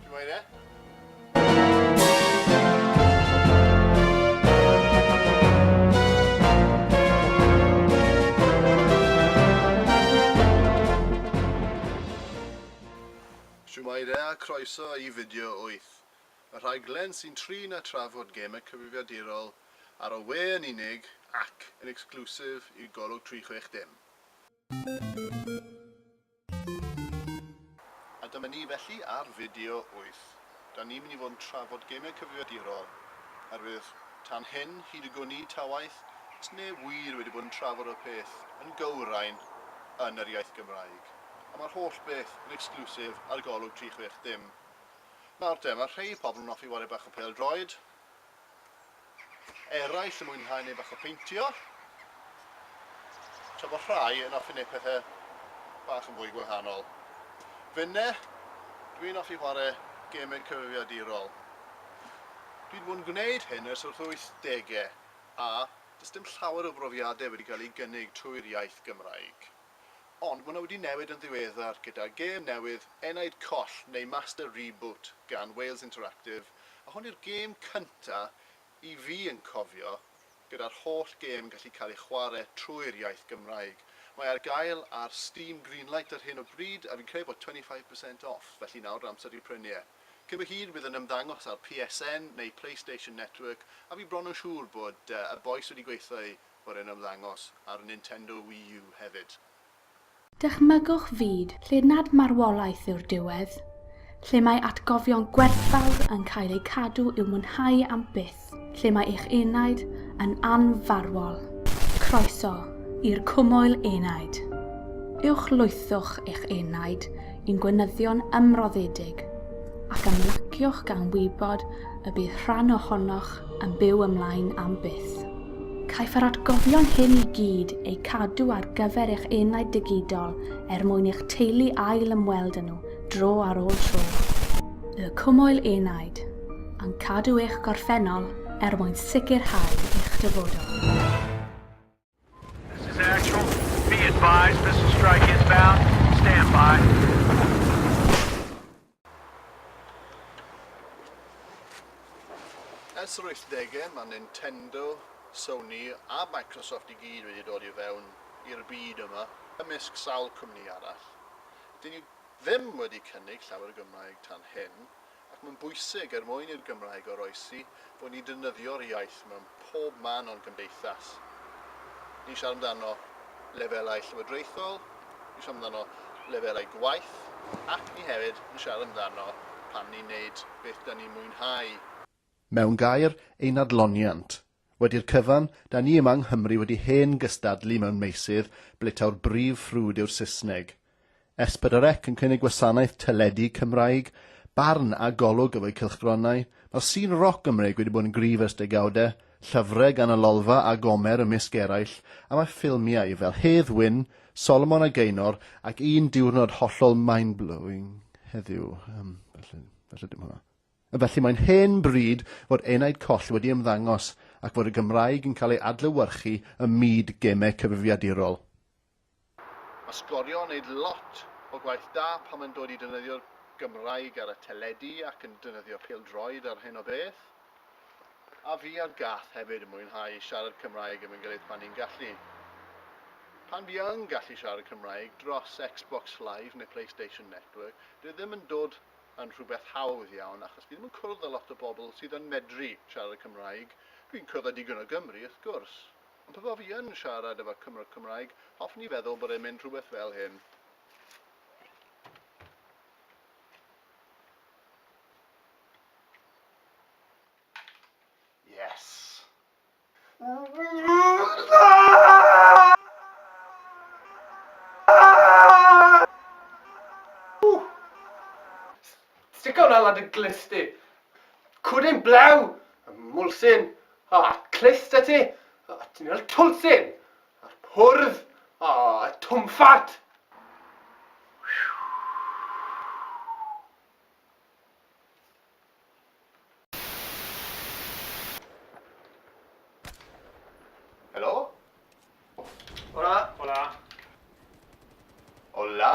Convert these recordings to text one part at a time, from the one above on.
Ti'n moyn e? Shwmae a croeso i fideo 8, y rhaglen sy'n trin a trafod gemau cyfrifiadurol ar y we yn unig ac yn exclusive i Golwg 360. A dyma ni felly ar fideo wyth. Da ni'n mynd i fod yn trafod gêmiau cyfrifiadurol, oherwydd tan hyn, hyd y gwn i, ta waeth, does neb wir wedi bod yn trafod y peth yn gywrain yn yr iaith Gymraeg. A mae'r holl beth yn exclusive ar Golwg 360. Nawr te, mae rhei pobl yn offi ware bach o pêl-droed, eraill yn mwynhau neu bach o peintio, tra bod rhai yn offi neu pethau bach yn fwy gwahanol. Finne, dwi'n offi chwarae gemau cyfrifiadurol. Dwi'n bod yn gwneud hyn ers wrth wythdegau, a does dim llawer o brofiadau wedi cael eu gynnig trwy'r iaith Gymraeg. Ond mae hwnna wedi newid yn ddiweddar gyda gêm newydd Enaid Coll neu Master Reboot gan Wales Interactive A hwn yw'r gêm cynta i fi yn cofio gyda'r holl gêm yn gallu cael ei chware trwy'r iaith Gymraeg. Mae ar gael ar Steam Greenlight ar hyn o bryd a fi'n credu bod 25 percent off, felly nawr yw'r amser i prynu e. Cyn bo hir bydd yn ymddangos ar PSN neu Playstation Network a fi bron yn siŵr bod y bois wedi gweithio i fod e'n ymddangos ar Nintendo Wii U hefyd. Dychmygwch fyd lle nad marwolaeth yw'r diwedd, lle mae atgofion gwerthfawr yn cael eu cadw i'w mwynhau am byth, lle mae eich enaid yn anfarwol. Croeso i'r Cwmwl Enaid! Uwchlwythwch eich enaid i'n gweinyddion ymroddedig ac ymlaciwch gan wybod y bydd rhan ohonoch yn byw ymlaen am byth. Caiff yr atgofion hyn i gyd eu cadw ar gyfer eich enaid digidol er mwyn i'ch teulu ail ymweld â nhw dro ar ôl tro. Y Cwmwl Enaid, yn cadw eich gorffennol er mwyn sicrhau eich dyfodol. This is actual. Be advised, missile strike inbound. Stand by. Ers yr wythdegau, mae Nintendo, Sony a Microsoft i gyd wedi dod i fewn i'r byd yma, ymysg sawl cwmni arall. Dyn ni ddim wedi cynnig llawer o Gymraeg tan hyn, ac mae'n bwysig er mwyn i'r Gymraeg oroesi bod ni'n defnyddio'r iaith mewn pob man o'n cymdeithas. Ni'n siarad amdano lefelau llywodraethol, ni'n siarad amdano lefelau gwaith, ac ni hefyd yn siarad amdano pan ni'n neud beth da ni'n mwynhau. Mewn gair, ein adloniant. Wedi'r cyfan, da ni yma yng Nghymru wedi hen gystadlu mewn meysydd ble taw'r brif ffrwd yw'r Saesneg. S4C yn cynnig gwasanaeth teledu Cymraeg, barn a golwg efo'u cylchgronau. Mae'r sîn roc Gymreig wedi bod yn gryf ers degawdau, llyfrau gan y Lolfa a Gomer ymysg eraill, a mae ffilmiau fel Hedd Wyn, Solomon a Gaenor ac Un Diwrnod hollol mind-blowing heddiw. Yym, felly, felly dim hwnna. Felly mae'n hen bryd fod Enaid Coll wedi ymddangos ac fod y Gymraeg yn cael ei adlewyrchu ym myd gemau cyfrifiadurol. Mae sgorio yn neud lot o gwaith da pan mae'n dod i defnyddio'r Gymraeg ar y teledu ac yn defnyddio pêl-droed a'r hyn o beth. A fi a'r gath hefyd yn mwynhau siarad Cymraeg efo'n gilydd pan ni'n gallu. Pan fi yn gallu siarad Cymraeg dros Xbox Live neu Playstation Network, dyw e ddim yn dod yn rhywbeth hawdd iawn achos fi ddim yn cwrdd â lot o bobl sydd yn medru siarad Cymraeg, dwi'n cwrdd â digon o Gymry wrth gwrs. Ond pe bai fi yn siarad efo Cymro Cymraeg, hoffwn i feddwl bod e'n mynd rhywbeth fel hyn. Yes! Stico hwnna lan dy glust di! Cwd ein blew! Mwlsyn! A clust y tŷ, a tynnu'r twlsyn, a'r pwrdd, a twmffat. Helo? Hola! Hola! Hola!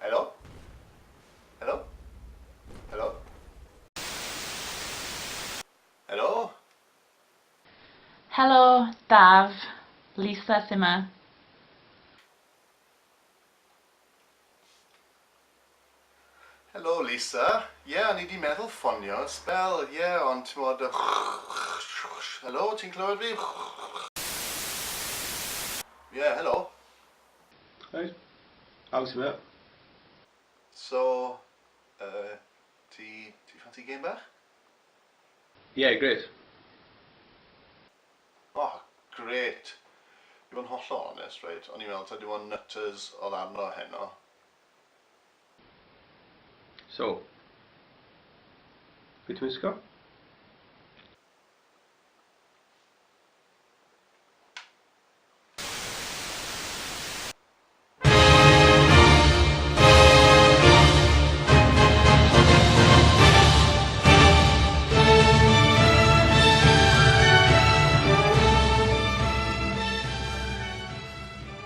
Helo? Helo? Helo? Helo? Helo, Daf. Lisa sy 'ma. Helo, Lisa. Ie, o'n i 'di meddwl ffonio sbel, ie, ond t'mod y Helo, ti'n clywed fi? Ie, helo? Reit. Haws yw e. So, yy, ti, ti ffansi gêm bach? Ie, grêt. O, grêt. I fod yn hollol onest, reit, o'n i'n meddwl taw dim ond nutters oedd arno heno. So, be ti'n wisgo?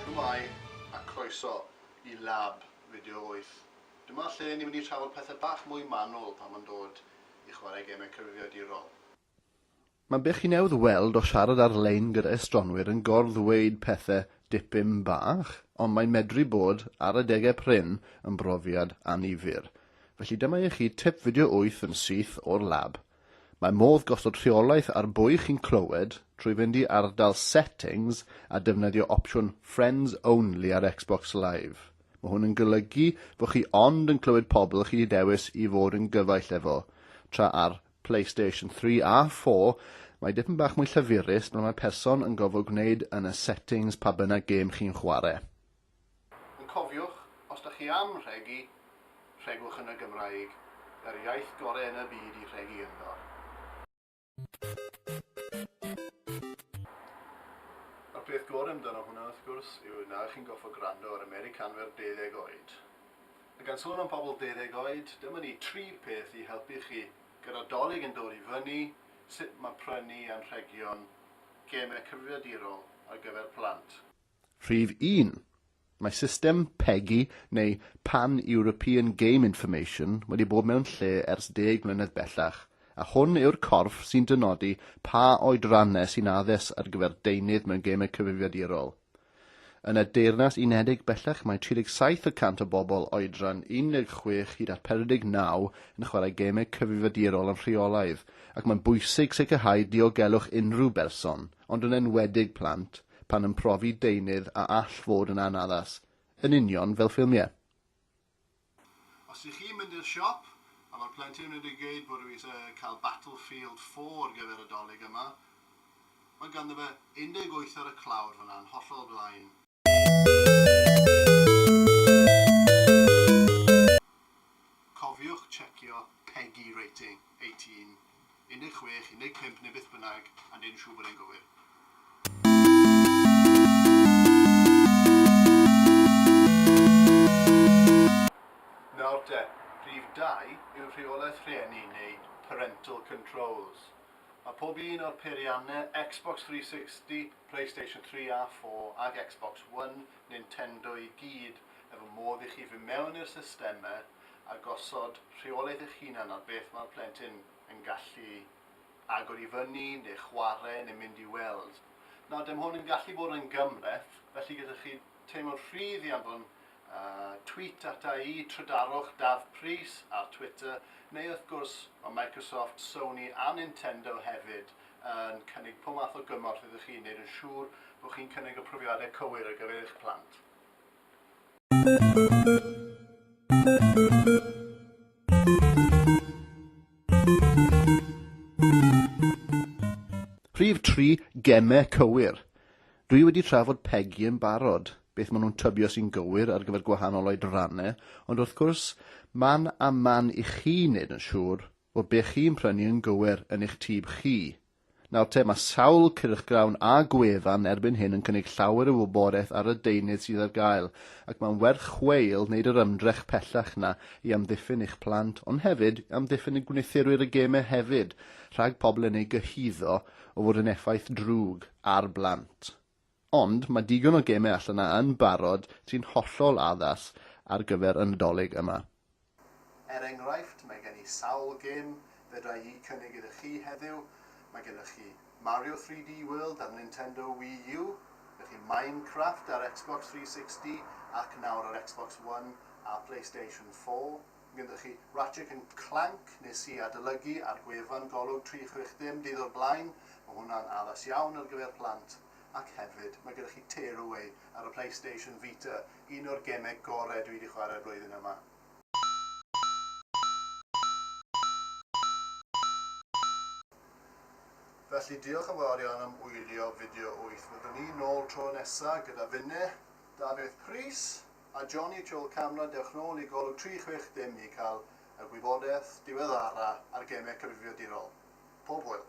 Shwmae a croeso i Lab Fideo wyth. Dyma lle ni'n mynd i trafod pethe bach mwy manwl pan ma'n dod i chwarae gemau cyfrifiadurol. Mae'n beth chi newydd weld o siarad ar-lein gyda estronwyr yn gor-ddweud pethe dipyn bach, ond mae'n medru bod, ar adegau prin, yn brofiad annifyr. Felly dyma i chi tip fideo wyth yn syth o'r lab. Mae modd gosod rheolaeth ar bwy chi'n clywed trwy fynd i ardal Settings a defnyddio opsiwn Friends Only ar Xbox Live. Mae hwn yn golygu fo chi ond yn clywed pobl chi 'di dewis i fod yn gyfaill efo, tra ar PlayStation 3 a 4, mae dipyn bach mwy llyfurus pan mae person yn gofod gwneud yn y settings pa bynnag gêm chi'n chwarae. Ond cofiwch, os da chi am rhegi, rhegwch yn y Gymraeg, yr iaith gore yn y byd i rhegi ynddo. A'r peth gore amdano hwnna wrth gwrs yw na chi'n goffod gwrando ar Americanwyr deuddeg oed. A gan sôn am pobl deuddeg oed, dyma ni tri peth i helpu chi gyda 'Dolig yn dod i fyny', sut mae prynu anrhegion gemau cyfrifiadurol ar gyfer plant. Rhif un, mae system PEGI neu Pan European Game Information wedi bod mewn lle ers deg mlynedd bellach, a hwn yw'r corff sy'n dynodi pa oedranne sy'n addas ar gyfer deunydd mewn gemau cyfrifiadurol. Yn y Deyrnas Unedig bellach mae 37 y cant o bobl oedran 16 hyd at 49 yn chwarae gemau cyfrifiadurol yn rheolaidd, ac mae'n bwysig sicrhau diogelwch unrhyw berson, ond yn enwedig plant, pan yn profi deunydd a all fod yn anaddas, yn union fel ffilmiau. Os ych chi'n mynd i'r siop, a mae'r plentyn wedi gweud bod nhw eisiau cael Battlefield four ar gyfer y Dolig yma, mae ganddo fe 18 ar y clawr fan'na yn hollol flaen. Cofiwch tsiecio PEGI rating, eighteen. 16, 15 neu beth bynnag, a neud yn siŵr bod e'n gywir. Nawr te, rhif dau yw rheolaeth rhieni neu parental controls. Mae pob un o'r peiriannau, Xbox 360, Playstation 3 a 4 ac Xbox One, Nintendo i gyd, efo modd i chi fynd mewn i'r systemau a gosod rheolaeth eich hunan ar beth mae'r plentyn yn gallu agor i fyny, neu chwarae, neu mynd i weld. Nawr, dim hwn yn gallu bod yn gymhleth, felly gyda chi teimlo'n rhydd i anfon uh, tweet ata i, trydarwch Daf Prys ar Twitter, neu wrth gwrs mae Microsoft, Sony a Nintendo hefyd yn cynnig pob math o gymorth iddo chi wneud yn siŵr bod chi'n cynnig y profiadau cywir ar gyfer eich plant. Rhif tri, gemau cywir. Dwi wedi trafod Peggy yn barod, beth maen nhw'n tybio sy'n gywir ar gyfer gwahanol oedrannau, ond wrth gwrs, man a man i chi wneud yn siŵr bod be chi'n prynu yn gywir yn eich tyb chi. Nawr te, mae sawl cyrchgrawn a gwefan erbyn hyn yn cynnig llawer o wybodaeth ar y deunydd sydd ar gael, ac mae'n werth chweil wneud yr ymdrech pellach 'na i amddiffyn eich plant, ond hefyd i amddiffyn y gwnithyrwyr y gemau hefyd, rhag pobl yn eu gyhuddo o fod yn effaith drwg ar blant. Ond mae digon o gemau allan 'na yn barod sy'n hollol addas ar gyfer y Nadolig yma. Er enghraifft, mae gen i sawl gêm fedra i eu cynnig iddo chi heddiw. Mae gennych chi Mario 3D World ar Nintendo Wii U, gennych chi Minecraft ar Xbox 360 ac nawr ar Xbox One a Playstation 4. gyda chi, Ratchet and Clank, nes i adolygu ar gwefan Golwg 360 dydd o'r blaen, mae hwnna'n addas iawn ar gyfer plant, ac hefyd, mae gyda chi Tear Away ar y Playstation Vita, un o'r gemeg gorau dwi 'di chwarae'r flwyddyn yma. Felly, diolch yn fawr iawn am wylio fideo wyth, byddwn ni nôl tro nesa gyda finne, Dafydd Prys. A Johnny Chol Camra dewch nôl i golwg 360 i cael y gwybodaeth diweddara ar gemau cyfrifiadurol. Pob hwyl.